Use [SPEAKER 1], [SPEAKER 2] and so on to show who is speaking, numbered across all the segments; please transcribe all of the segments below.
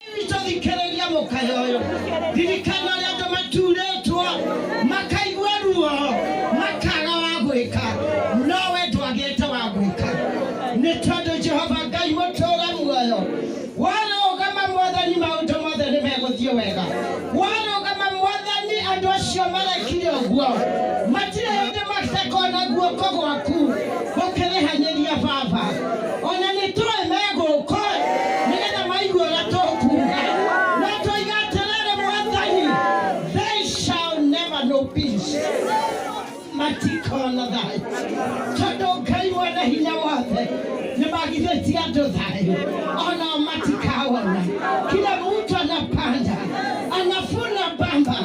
[SPEAKER 1] Kristo thikĩrĩria mũkaya ũyũ ririkana ũrĩa andũ maturĩtwo makaigua ruo makaga wa gwĩka nowe ndwagĩte wa gwĩka nĩ tondũ jehova ngai mũtũra muoyo warũgama mwathani maũndũ mothe nĩ megũthiĩ wega warũgama mwathani andũ acio marekire ũguo matirĩ hĩndĩ matekona guoko gwaku gũkĩrĩhanĩria baba ona nĩ tũĩ megũka nĩgetha maigue ũrĩa tũkuga na tũiga atĩrĩrĩ mwathani they shall never know peace matikona thayũ tondũ ngai mwene hinya wothe nĩ magithĩtie andũ thayũ onao matikawona kila mtu anapanda anafuna bamba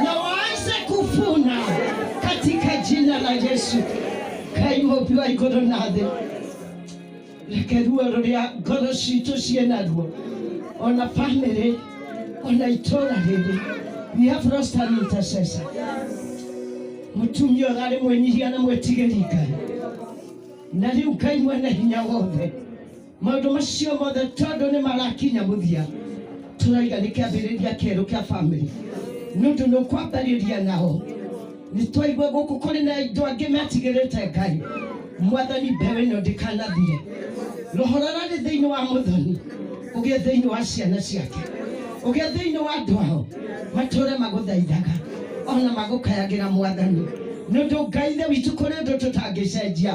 [SPEAKER 1] na waanze kufuna katika jina la yesu Ngai mũhobi wa igũrũ na thĩ reke ruo rũrĩa ngoro citũ ciĩ naruo ona bamĩrĩ ona itũra rĩrĩ we have lost an intercessor mũtumia ũrarĩ mwĩnyihia na mwĩtigĩri ngai na rĩu ngai mwene hinya wothe maundu macio mothe tondu ni marakinya muthia turaiga ni kiambiriria kieru kia family nundu ni ukwambariria nao ni twaigua guku kuri na andu angi metigirite ngai mwathani mbeũ ĩno ndĩkanathire roho rararĩ thĩinĩ wa mũthoni ũgĩe thĩinĩ wa ciana ciake ũgĩe thĩinĩ wa andũ ao matũre magũthaithaga ona magũkayagĩra mwathani nĩ ũndũ ngai ithe witũ kũrĩ ũndũ tũtangĩcenjia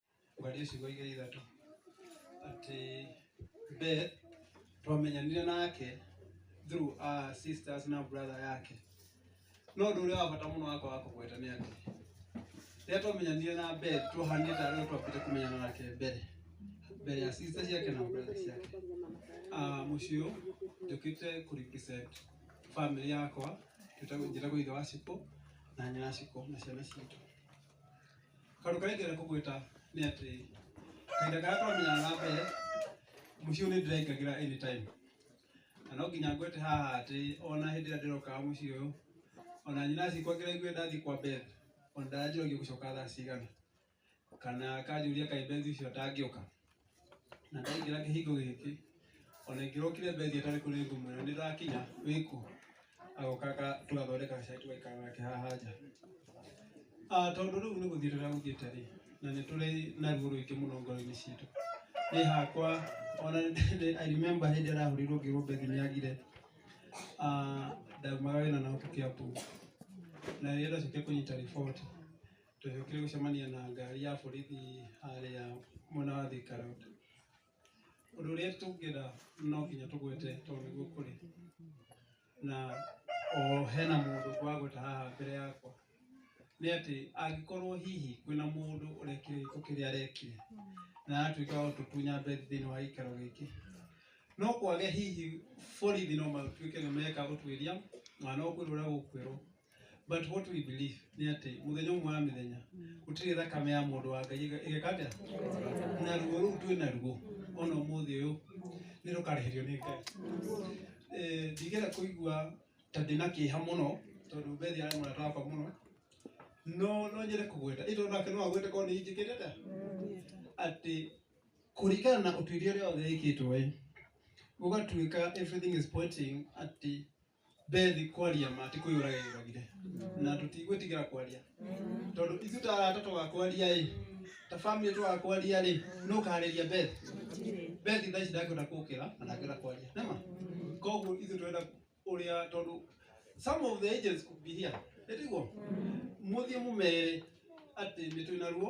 [SPEAKER 1] kwaria ciugo iria ithatũ atĩ Beth twamenyanire nake through our sisters na brother yake no ũndũ ũrĩa wa bata mũno wakwa wa kũgweta nĩ atĩ rĩrĩa twamenyanire na Beth twahanire ta arĩa twambĩte kũmenyana nake mbere mbere ya sister ciake na brother ciake Ah, mũciĩ ũyũ njũkĩte kũ represent family yakwa njĩtagwo njĩtagwo ithe wa ciko na nyina wa ciko na ciana citũ Kaũndũ karĩa ingĩenda kũmwĩta nĩ atĩ kahinda karĩa twamenyana na mbere, mũciĩ ũyũ nĩ ndĩraingagĩra anytime. Na no nginya ngwĩte haha atĩ ona hĩndĩ ĩrĩa ndĩrokaga mũciĩ ũyũ, ona nyina acikwa ngĩraigua ndathiĩ kwa Beth, ona ndanjũragia ũgũcoka thaa cigana, kana akanjũria kaĩ Beth ũcio atangĩũka. na ndaingĩra kĩhingo gĩkĩ ona ingĩrokire mbethi atarĩ kũrĩ ngũmwĩra nĩ ndakinya wĩkũ agoka aka- tũgathondeka gacai tũgaikara nake haha nja Ah, tondũ rĩu nĩ gũthiĩ tũragũthiĩte rĩ na nĩ tũrĩ na ruo rũingĩ mũno ngoro-inĩ citũ nĩ hakwa ona nĩ- I remember hĩndĩ ĩrĩa arahũrirwo ngĩrwo mbethi nĩ agire Ah, ndaumaga wĩra na ũtukĩa puu na rĩrĩa ndacokia kũnyita riboti Twagĩũkire gũcemania na ngari ya borithi harĩa mwena wa Thika Road. Ũndũ ũrĩa tũngĩra no nginya tũgwete tondũ nĩguo kũrĩ na o hena mũndũ ngwagweta haha mbere yakwa nĩ atĩ angĩkorwo hihi kwĩna mũndũ ũrekire gĩko kĩrĩa arekire na atuĩka wa gũtũtunya mbethi thĩinĩ wa gĩikaro gĩkĩ no kwage hihi borithi no matuĩke nĩ meka ũtuĩria na no kwĩrwo ũrĩa gũkwĩrwo but what we believe nĩ atĩ mũthenya ũmwe wa mĩthenya gũtirĩ thakame ya mũndũ wa ngai ĩge- ĩgeka atĩa na ruo rũu twĩ naruo ona ũmũthĩ ũyũ nĩ rũkarĩhĩrio nĩ ngai Eh, ndigera kũigua ta ndĩna kĩeha mũno tondũ bethi arĩ mũrata wakwa mũno no no nyende kũgweta ĩndĩ onake no agwete korwo nĩ injĩkĩte ta atĩ kũringana na ũtuĩria ũrĩa wothe ĩkĩtwo ĩ gũgatuĩka everything is pointing atĩ bethi kwaria ma ti kũyũraga yũragire na tũtigwĩtigĩra kwaria tondũ ithu ta arata twagakwaria ĩ ta family twagakwaria rĩ nũ ũkaharĩria bethi bethi thaa ici ndangĩhota kũkĩra na ndangĩhota kwaria nema koguo ithu twenda ũrĩa tondũ some of the agents could be here ĩtiguo mũthiĩ mũmere atĩ nĩ twĩna ruo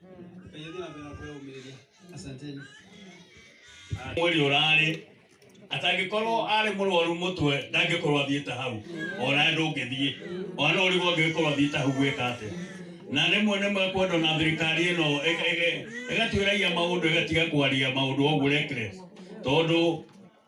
[SPEAKER 1] Asanteni. mweri ũrarĩ atangĩkorwo arĩ mũrwaru mũtwe ndangĩkorwo athiĩte hau ona ndũngĩthiĩ ona ũrĩgo angĩkorwo athiĩte hau gwĩka atĩ na rĩmwe nĩ mekwenda na thirikari ĩno ĩga- ĩga- ĩgatuĩragia maũndũ ĩgatiga kwaria maũndũ oguo reckless tondũ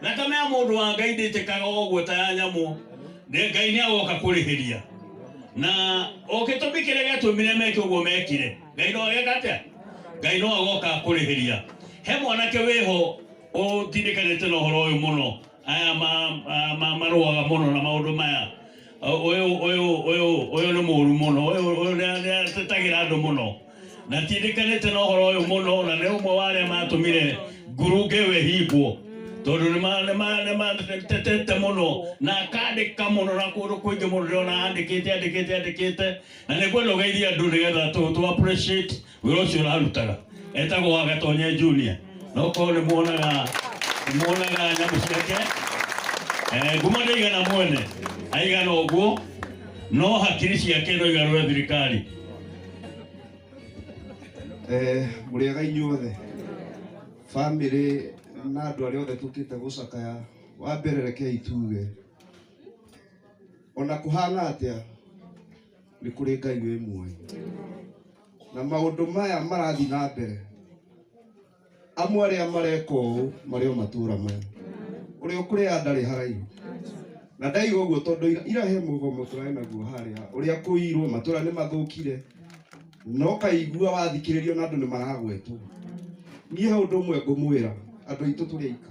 [SPEAKER 1] Thakame ya mũndũ wa Ngai ndĩitĩkaga o ũguo ta ya nyamũ. Nĩ- Ngai nĩ agoka kũrĩhĩria. Na o gĩtũmi kĩrĩa gĩatũmire meke ũguo mekire. Ngai no ageka atĩa? Ngai no agoka kũrĩhĩria. He mwanake wĩho ũtindĩkanĩte na ũhoro ũyũ mũno. Aya ma- ma- ma- marũaga mũno na maũndũ maya. Ũyũ ũyũ ũyũ ũyũ nĩ mũru mũno, ũyũ ũyũ nĩ nĩ atetagira andũ mũno na tindĩkanĩte na ũhoro ũyũ mũno, na nĩ ũmwe wa arĩa matũmire ngurunge ĩyo ĩhingwo tondũ nĩ ma- nĩ ma- nĩ matetete mũno na akandĩka mũno na kũndũ kũingĩ mũno ndĩrona andĩkĩte andĩkĩte andĩkĩte na nĩ kwenda ũgeithie andũ nĩgetha tũ tũ appreciate wĩra ũcio ũrarutaga etagwo wa gatonye junior no korwo nĩ muonaga nĩ muonaga nyamũ ciake Eh, ngumo ndaigana mwene aigana ũguo no hakiri ciake no igarũre thirikari Eh, mũrĩega inyuothe bamĩrĩ na andũ arĩa othe tũkĩte gũcakaya wa mbere rekei tuge ona kũhana atĩa nĩ kũrĩ ngai wĩ muoyo na maũndũ maya marathiĩ na mbere amwe arĩa mareka ũũ marĩ o matũũra maya ũrĩa ũkũrĩa ndarĩ haraihu na ndaiga ũguo tondũ ira- ira he mũgomo tũrarĩ naguo harĩa ũrĩa kũirwo matũũra nĩ mathũkire no kaigua wathikĩrĩrio na andũ nĩ maragwetwo niĩ he ũndũ ũmwe ngũmwĩra andũ aitũ tũrĩ aika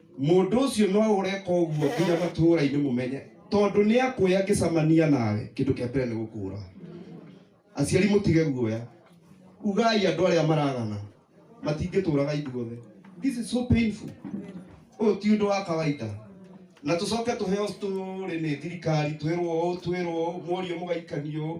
[SPEAKER 1] Mũndũ ũcio no ũreka ũguo nginya matũũra-inĩ mũmenye, tondũ nĩ akuoya ngĩcamania nawe, kĩndũ kĩa mbere nĩ gũkũũra. Aciari mũtige guoya, ugai andũ arĩa maragana matingĩtũũraga ithuothe. This is so painful. Ũyũ ti ũndũ wa kawaida na tũcoke tũheo story nĩ thirikari twĩrwo ũũ twĩrwo ũũ mworio mũgaikania ũũ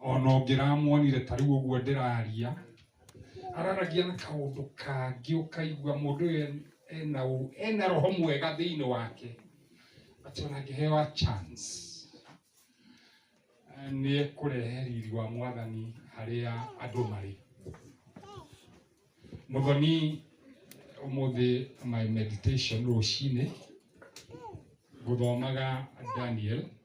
[SPEAKER 1] ona ũngĩramuonire ta rĩu ũguo ndĩraria araragia na kaũndũ kangĩ ũkaigua mũndũ ũyũ ena ũ- ena roho mwega thĩinĩ wake atĩ ona angĩhewa chance eh, nĩ ekũrehe riri wa mwathani harĩa andũ marĩ mũthoni ũmũthĩ my meditation rũcinĩ gũthomaga daniel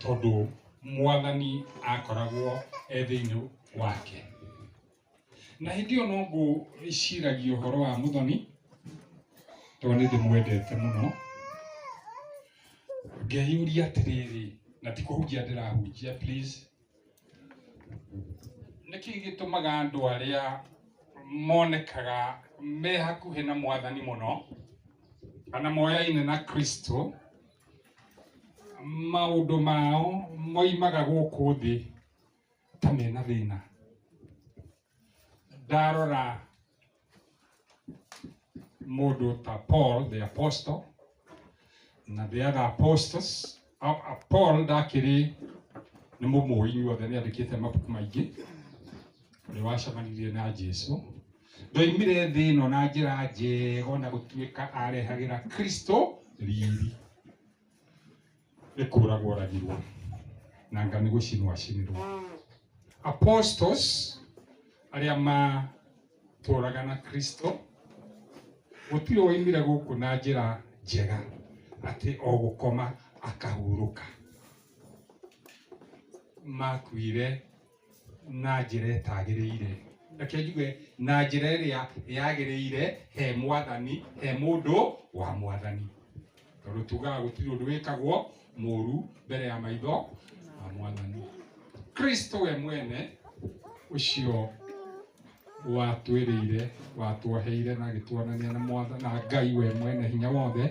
[SPEAKER 1] tondũ mwathani akoragwo e thĩinĩ wake. Na hĩndĩ ĩyo no ngũciragia ũhoro wa Muthoni, tondũ nĩ ndĩmwendete mũno, ngeyũria atĩrĩrĩ, na ti kũhunjia ndĩrahunjia please, Nĩkĩ gĩtũmaga andũ arĩa monekaga me hakuhĩ na mwathani mũno kana moyaine na Kristo maũndũ mao moimaga gũkũ thĩ ta mena thĩna? ndarora mũndũ ta Paul the apostle na the other apostles A- a- Paul ndakĩrĩ nĩ mũmũĩ inyuothe nĩ andĩkĩte mabuku maingĩ nĩ wacemanirie na Jesu ndoimire thĩ ĩno na njĩra njega na gũtuĩka arehagĩra Kristo riri nĩ kũragwo ragirwo na anga nĩ gũcinwo acinirwo apostles arĩa matũraga na kristo gũtirĩ waimire gũkũ na njĩra njega atĩ o gũkoma akahurũka makuire na njĩra ĩtagĩrĩire reke njuge na njĩra ĩrĩa yagĩrĩire he mwathani he mũndũ wa mwathani tondũ tugaga gũtirĩ ũndũ wĩkagwo mũru mbere ya maitho ma mwathani kristo we mwene ũcio watwĩrĩire watwoheire na agĩtwonania na mwatha na ngai we mwene hinya wothe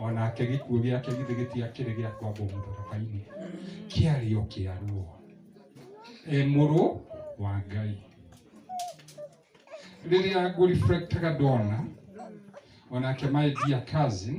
[SPEAKER 1] onake gĩkuũ gĩake githĩ gĩtiakĩrĩ gĩa kwambwo mũtharaba-inĩ kĩarĩ o kĩa ruo e mũrũ wa ngai rĩrĩa ngũreflectaga ndona onake my dear cousin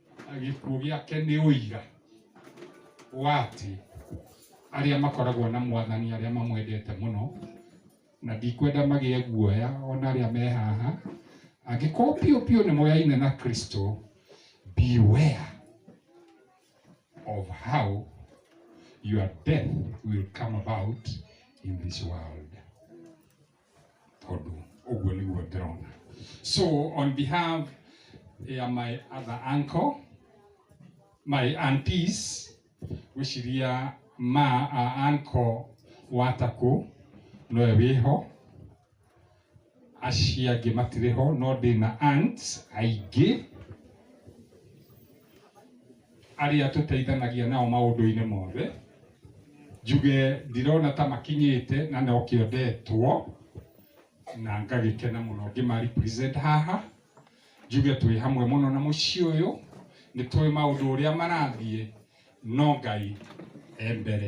[SPEAKER 1] gĩkuũ gĩake nĩ ũira wa atĩ arĩa makoragwo na mwathani arĩa mamwendete mũno na ndikwenda magĩe guoya ona arĩa me haha angĩkorwo piũ piũ nĩ moyaine na kristo beware of how your death will come about in this world tondũ ũguo nĩguo ndĩrona so on behalf ya my other uncle my aunties gwĩciria ma a uncle wa takũ nowe wĩho acio angĩ matirĩ ho no ndĩna aunts aingĩ arĩa tũteithanagia nao maũndũ-inĩ mothe, njuge ndirona ta makinyĩte na no kĩo ndetwo na ngagĩkena mũno ngĩma represent haha, njuge twĩ hamwe mũno na mũciĩ ũyũ, nĩ tũĩ maũndũ ũrĩa marathiĩ no Ngai e mbere.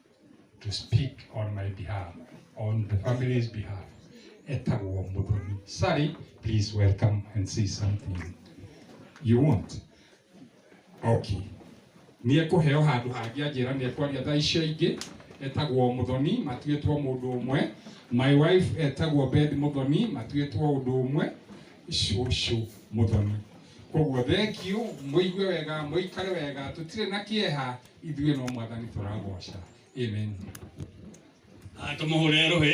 [SPEAKER 1] to speak on my behalf, on the family's behalf. Etagwo Mudoni. Sorry, please welcome and say something. You want? Okay. Nĩ ekũheo handũ hangĩ anjĩra nĩ ekwaria thaa icio ingĩ etagwo Mũthoni matuĩtwo mũndũ ũmwe. My wife etagwo Beth Mũthoni matuĩtwo ũndũ ũmwe cũcũ Mũthoni. Koguo thengiũ, mũigue wega, mũikare wega, tũtirĩ na kĩeha, ithuĩ no mwathani tũragoca amen tũmũhũre rũhĩ